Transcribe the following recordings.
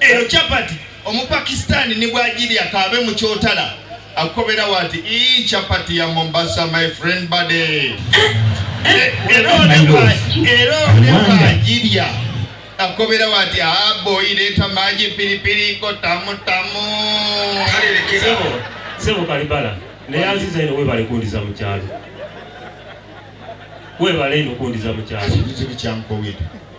Eyo chapati omupakistani ni bwagirya kaabe mu kyotala akukobera wati ii chapati ya Mombasa my friend bade era olebwagirya akukobera wati aboyi leeta maji piripiri ko tamu tamu sebo kalibala naye aziza ino webale kundiza mu kyalo webale ino kundiza mu kyalo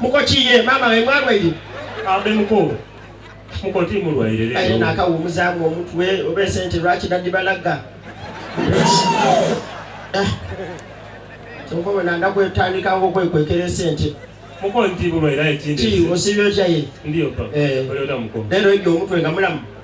Mukoki ye mama we mwalwaire. Ambe mukulu. Mukoti mulwaire lero. Ayo nakawumuzamu omutwe oba esente lwaki dadi balaga. Eh. Kyova wena ndakwetandikawo okwekwekera esente. Mukoti bulwaire ekindi. Ki osibye otya ye? Ndiyo papa. Eh. Olyoda mukulu. Lero ebyo omutwe nga mulamu.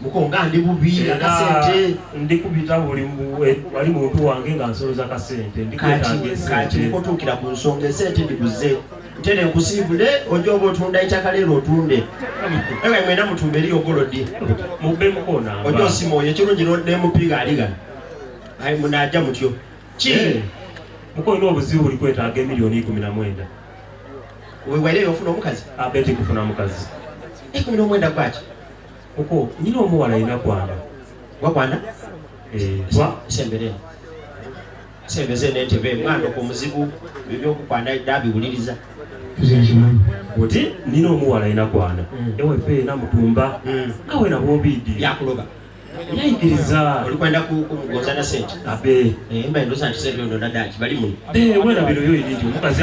mukonga ndi bubi akasente ndi kubita buli wali muntu wange nga nsoloza kasente ndikati kotukira ku nsonga esente ndiguze ntene nkusiibule oja oba otunda itaka leero otunde ewe mwena mutumba eri ogolodi mubbe mukona oja osima oyo ekirungi nemupiga aligana ayi munaja mutyo ki eh, mukolina obuzibu buli kwetaaga emiliyoni ikumi na mwenda wewaireyo ofuna omukazi abeti ah, kufuna mukazi ikumi nomwenda kwaki Kuko nyina omuwala alina kwana. Wakwana? Eh, twa sembere. Sembeze n'entebe mwana ku muzibu ebyokukwana dabiwuliriza. Oti nina omuwala alina kwana. Mm. Ewe fe na mutumba. Mm. Awe na bombidi. Yakuloba. Yayigiriza. Olikwenda ku kumugonza na sente. Abe. Eh, mba ndoza nti sente ndo nadaki bali mu. Eh, wena bino yoyi ndio mukazi